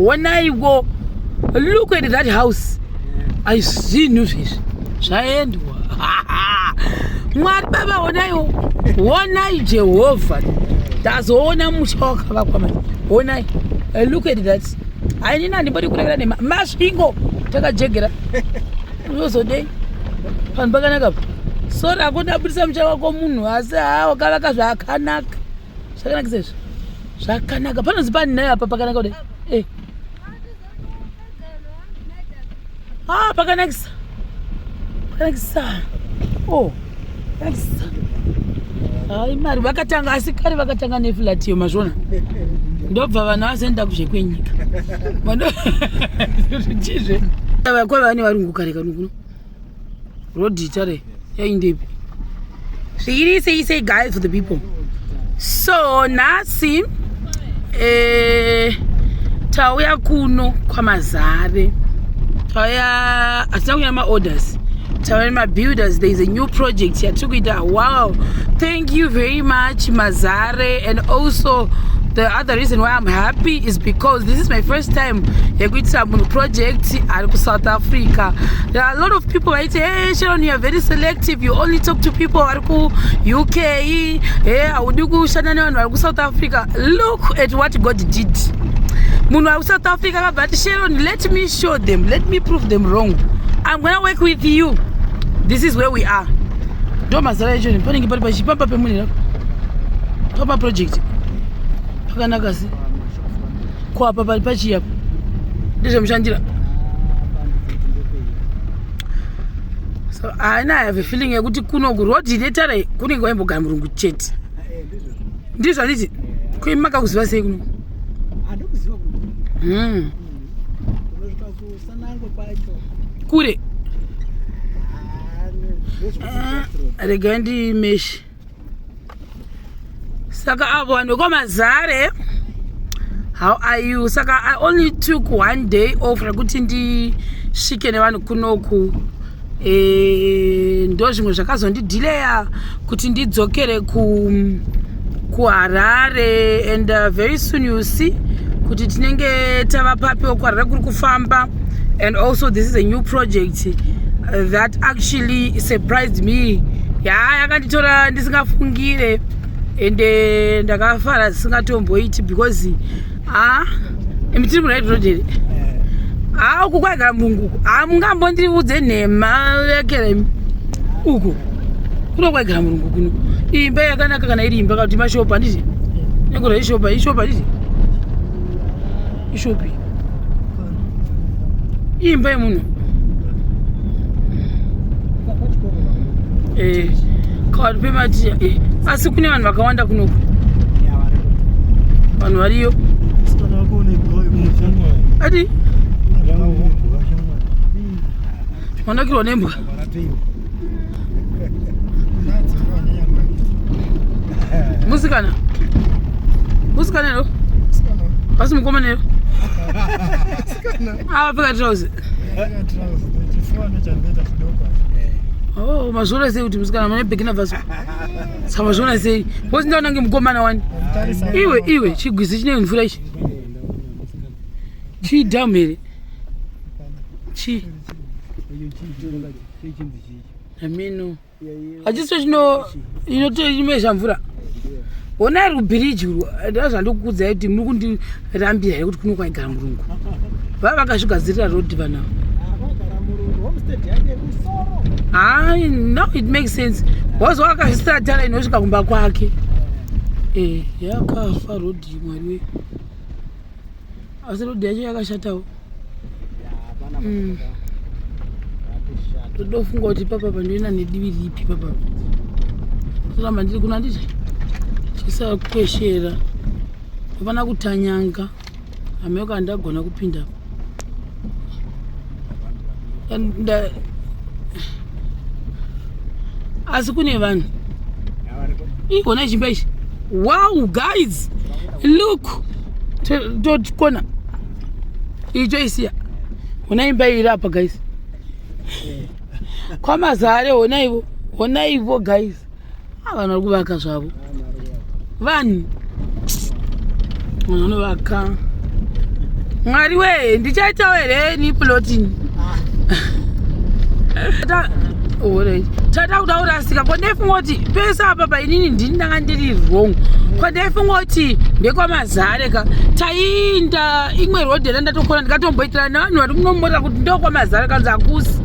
honaiwo look at that house aizvinhu zvezvi zvaendwa mwari baba honaiwo honai jehovha tazoona musha wakavakwa mani honai eh, look at that ainini andimbodi kurekera nema masvingo takajegera unozodei panhu pakanaka pa sori akoda abudisa mucha wako munhu asi haa wakavaka zvakanaka zvakanakisa izvi zvakanaka panonzi pani naye apa pakanaka kudai eh. ah, pakanakisa pakanakisa o oh, pakanakisa hai mari vakatanga asi kare vakatanga neflatiyo mazvona ndobva vanhu vazoenda kuzvekwenyika kwavane varungu kare kanukuno Road tare yaindepi? Zvikiri say say guys for the people. So nhasi eh tauya kuno kwaMazare. Tauya hatina kunyama orders. Tauya mabuilders there is a new project yatikuita wow. Thank Thank you very much Mazare and also the other reason why I'm happy is because this is my first time yekuitira munhu project ari kusouth africa there are a lot of people vaiti hey sharon you are very selective you only talk to people vari kuuk hey haudi kushanda nevanhu vari kusouth africa look at what god did munhu ari kusouth africa akabva ati sharon let me show them let me prove them wrong i'm gonna work with you this is where we are ndo mazara echo ni panenge pari pachipapa pemunhu papa project pakanaka si kwapa pari pachiyapo ndezvemushandira so haina have feeling yekuti kuno kurod netara kunenge waimbogara murungu chete ndizvo handiti kuimakakuziva sei kuno hmm. kure ah, rega ndimeshi saka avo vanhu kwamazare how are you saka i only took one day off rekuti ndisvike nevanhu kunoku e, ndo zvimwe zvakazondidhileya kuti ndidzokere ku kuharare and uh, very soon you see kuti tinenge tava papiwo kuharare kuri kufamba and also this is a new project uh, that actually surprised me ya yakanditora ndisingafungire ende ndakafara zisingatomboiti because haa imi tiri muraid road here haa uku kwaigara mbungu uku haa mungambondiudze nhema yakera imi uku kuno kwaigara murungu kuno imba yakanaka kana iri imba kauti mashopa handiti nekura ishopa ishopa handiti ishopi imba yemunhu eh, kawari pemati eh, asi kune vanhu vakawanda kunoku vanhu variyo ati vanakirwa nembwa musikana musikana lo asi mukomana lo avapfeka trousi Oh, mazviona sei kuti musikana mune beginner version saka mazviona sei bcause ndaona nge mukomana wani iwe iwe chigwizi chine mvura ichi chidhamu here chii amino hachisicho chino inotoimesha mvura hona ari kubhiriji urwo ndaa zvandokukudza kuti muri kundirambira here kuti kuno kwaigara murungu vava vakazvigadzirira rodi vanavo haa no it makes sense bcause wakazvisira tara inosvika kumba kwake e yakafa rodi mwari wee asi road yacho yakashatawo ndodofunga mm. kuti papa pandoenda nedivi ripi papa toramba ndiri kuno anditi chisava kukweshera hapana kutanyanga hameko andagona kupinda and uh, asi kune vanhu igona chimba ichi wow guys look tokona icho isiya hona imba iri apa guys kwamazare honaivo honaivo guys Ah, vanhu vari kuvaka zvavo vanhu vanhu vanovaka mwari wee ndichaitawo here ni plotini tata kuda kurasika ko ndaifunga kuti pese apa painini ndini ndanga ndiri wrong ko ndaifunga kuti ndekwamazare ka taiinda imwe rhodhi yanda ndatokona ndikatomboitirana nevanhu vari kunomborera kuti ndokwamazare kanzi hakusi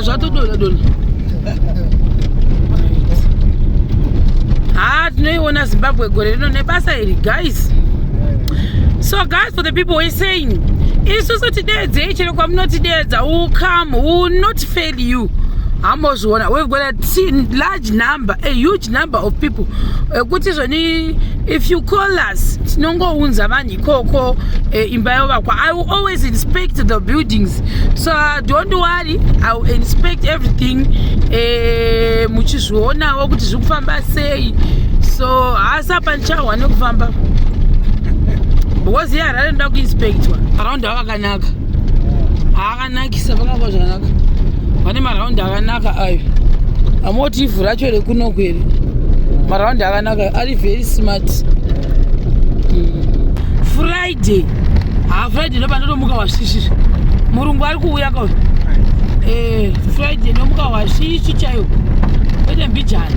zvatodonha donha haa tinoiona zimbabwe gore rino nebasa iri guys so guys for the people were saying isusu tideedzei chero kwamunotideedza will come will not fail you hambozviona we've got a large number a huge number of people ekuti zvoni if you call us tinongounza vanhu ikoko eh, imba yovakwa i will always inspect the buildings so uh, don't worry i will inspect everything eh, muchizvionawo kuti zviri kufamba sei so haasi apa ndichahwa nekufamba because iye harare ndoda kuinspectwa around havakanaka anakisa vakava zvakanaka vane maraundi akanaka ayo amoti ivhu racho rekunoku here maraundi akanaka ari very smart hmm. friday ha friday ndoba ndotomuka wasvisvizvi murungu ari kuuya ka eh, friday ndomuka wasvisvi chaiwo kwete mbijana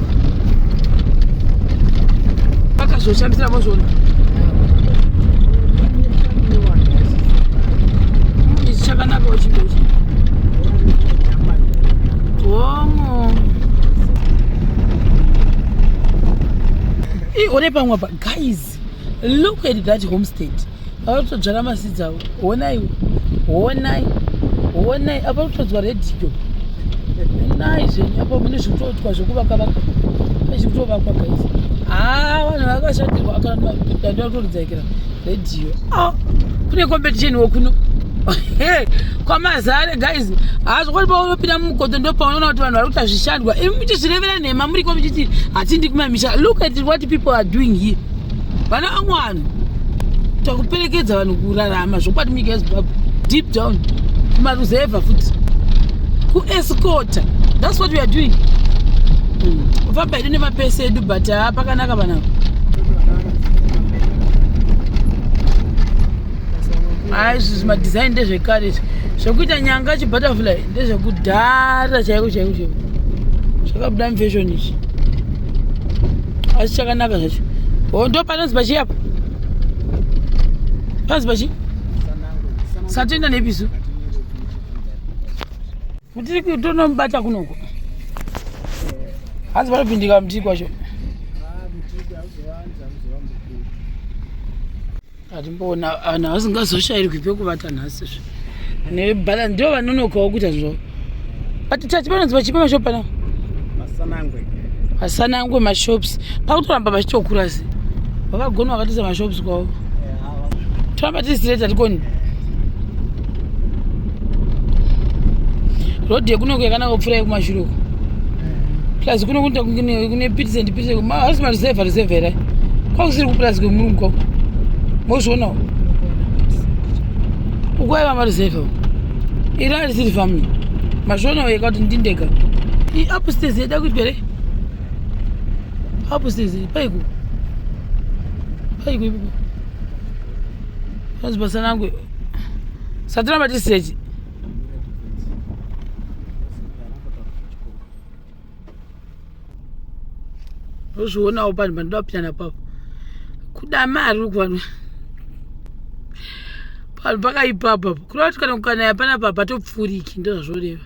zvoshandisira mozvona ichi chakanaka uchindochi homo i one pamwe pa guys seeds look at that homestead ava kutodzvara maseeds avo honai honai honai apa kutodzwa radio nai zvenyu apa mune zvikutoitwa zvekuvakavaka pezvikutovakwa guys haa vanhu vakashatirwa akadanda kutoridzaikira radio ah, kune competition wokuno kwamazare guys hazvokwati paunopinda mumukoto ndopaunoona kuti vanhu vari kuti hazvishandwa imi muchizvirevera nhema muri ko muchiti hatindi kumamisha look at what people are doing here vana vamwe vanhu takuperekedza vanhu kurarama zvokwadi munyika yezimbabwe deep down kumaruzevha futi kuescota thats what weare doing kufamba hmm. hedu nemapesi edu but haa pakanaka vanavo haa izvi zvimadesign ndezvekare zvekuita nyanga chibutterfly ndezvekudhara chaiko chaiko chaiko zvakabuda mufashoni izvi asi chakanaka zvacho hondo panonzi pachii apa panonzi pachii satoenda nepisu kutiri kutonomubata kunoko hanzi vanopindika mutiri kwacho atimboona vanhu havasingazoshairwi pekuvata nhasi zve nebhala ndo vanonokawo kuita zvo but tati panonzi vachipa mashop pana asanangwe mashops pakutoramba vachitokura se vakagona vakatiza mashops kwavo toramba tisitireta tikoni yeah, road yekunoku yakanaka kupfuura yekumashure uko plus kuno kunoita kune pits and pits haasi mareserve reserve here kwakusiri kupurazi kwemurungu kwako mozvionawo ukwaiva mareserve uko iri arisiri family mazvionawo yeka kuti ndindega iupstairs yada kuitwa here upstairs paiku paiku ipo panzi pasanangwe satiramba tisiyechi ozvionawo panhu pandoda kupinda napapo kuda mari ukuvanhu panhu pakaipapa kureva kuti kana kukanaya panapa patopfuuriki ndozvazvoreva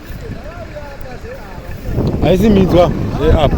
haisi minzwa yeapo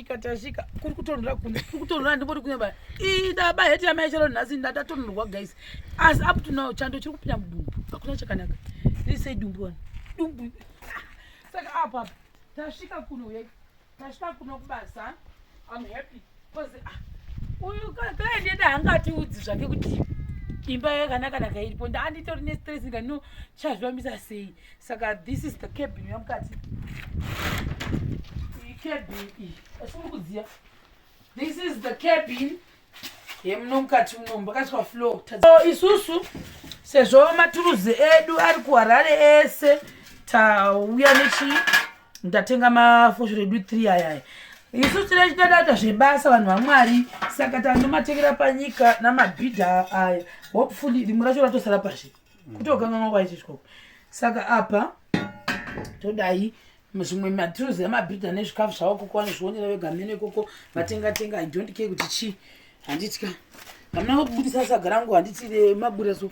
tasvika kuri kutonhora kunze kuri kutonhora ndingoti kunze baa ii ndaba heti yamai chero nhasi ndatatonhorwa guys asi up to now chando chiri kupinda mudumbu hakuna chakanaka ndisei dumbu wani dumbu saka apo apo tasvika kuno ye tasvika kuno kubasa am happy bcause ah, uyu client yeda hanga atiudzi zvake kuti imba yakanaka naka iripo ndaanditori nestress ndikano chazvivambisa sei saka this is the cabin yamukati iyi cabin iyi asi muri kudziya this is the cabin yemuno mukati muno mbakaiswa floor so isusu sezvo maturuzi edu ari kuharare ese tauya nechii ndatenga mafosho redu three ayaya isu tine chitadata zvebasa vanhu vamwari saka tanomatengera panyika namabhidha aya hopefully rimwe racho ratosara pazvi kutokanganwa kwaiti chikoko saka apa todai zvimwe matruzi emabhidha nezvikafu zvavo koko vanozvionera vega mheno ikoko vatenga tenga i don't care kuti chii handitya hamuna kubudisa saga rangu handiti remabura so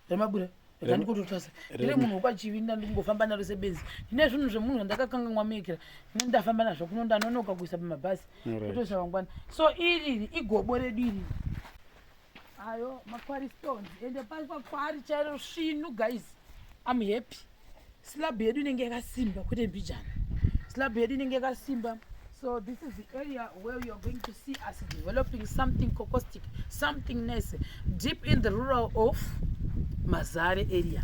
remabura randikototasa ndiri munhu wekwachivi ndandingofamba naro sebenzi ndine zvinhu zvemunhu zvandakakanganwa mekera ine ndafamba nazvo kuno ndanonoka kuisa pamabhasi kutoisa vangwana so iriri igobo redu iriri ayo makwari stones ende pari pakwari chairo svinu guys am happy slab yedu inenge yakasimba kwete mbijana slab yedu inenge yakasimba so this is the area where youare going to see us developing something cocostic something nice deep in the rural of mazare area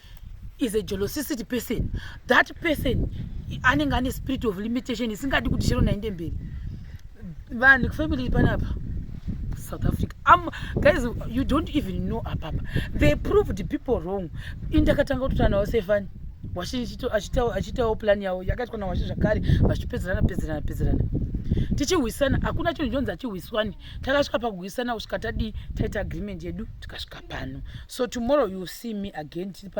is a jolosisity person that person anenge ane spirit of limitation isingadi kuti chero nainde mberi vanhu kufamily panapa south africa um, guys you don't even know apapa they proved people wrong indakatanga kutotanawo sefani washe achitawo plan yavo yakaitwa nawashe zvakare vachipedzerana pedzerana pedzerana tichihwisana hakuna chinhu chonzi achihwiswani takasvika pakuhwisana kusvika tadii taita agreement yedu tikasvika pano so tomorrow you see me again tiri pano